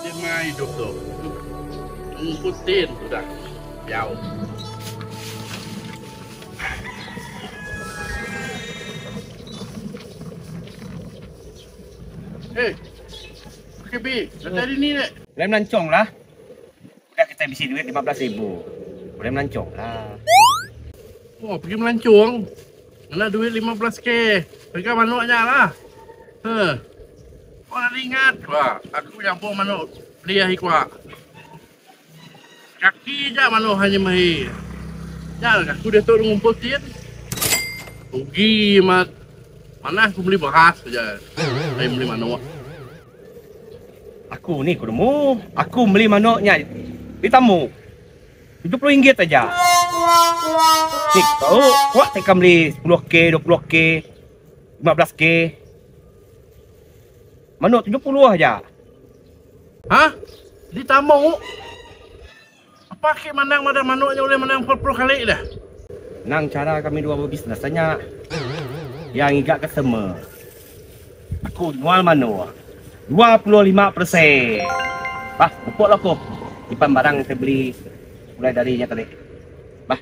Tema idup tu mengku tin udah diau. Hey, Kebi, datai dini dek. Ulai melancong lah. Udah kitai bisi duit lima belas ribu, ulih melancong lah. Oh, pergi melancong. Ngena duit lima belas K. Pega manok nya lah. Huh. Kau dah ingat ke ba, aku nyabong manok beli ahi kua. Kaki ja manok hanya mehi. Nya lah aku diatu ngumpul tin. Rugi amat. Manah aku meli beras aja. Ai meli manok. Aku ni ku nemu. Aku meli manok nya di tamu. Tujuh puluh ringgit aja. Ti ku tau kuak ti ka meli sepuluh k, dua puluh k, lima belas k. Manok tujuh puluh aja. Hah? Di tamu? Apa ke mandang madah manok nya ulih menang empat puluh kali dah. Nang cara kami dua bebisnes nya iya ngiga customer. Aku nyual manok dua puluh lima persen. Bah mupok lah ko nyimpan barang ke beli mulai dari nya tadi. Bah.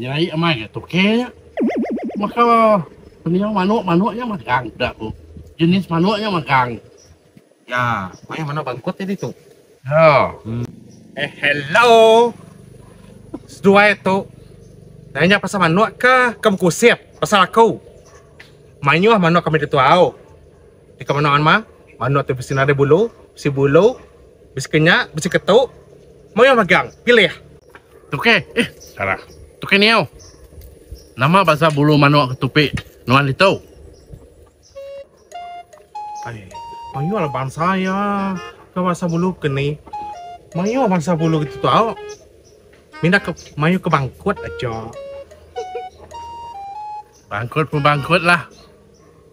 Nya ai amai ga tuke nya. Baka pendiau manuk, manuk nya magang peda ku jenis manuk nya magang. Ya, maya manuk bangkut nya ditu. Ya. Eh hello. Seduai tu nanya pasal manuk ka ke bekusip pasal aku. Mayuh manuk kami ditu au. Deka manok anma, manok tu bisi nadai bulu, bisi bulu, bisi kenyak, bisi ketu, mayuh magang, pilih. Tuke, eh salah. Tuke niau. Nama basa bulu manok ke tupi nuan ditu? Ai, mayuh lah basa iya ke basa bulu ke ni. Mayuh basa bulu kitu tau. Minda ke mayuh ke bangkut aja. Bangkut pun bangkut lah.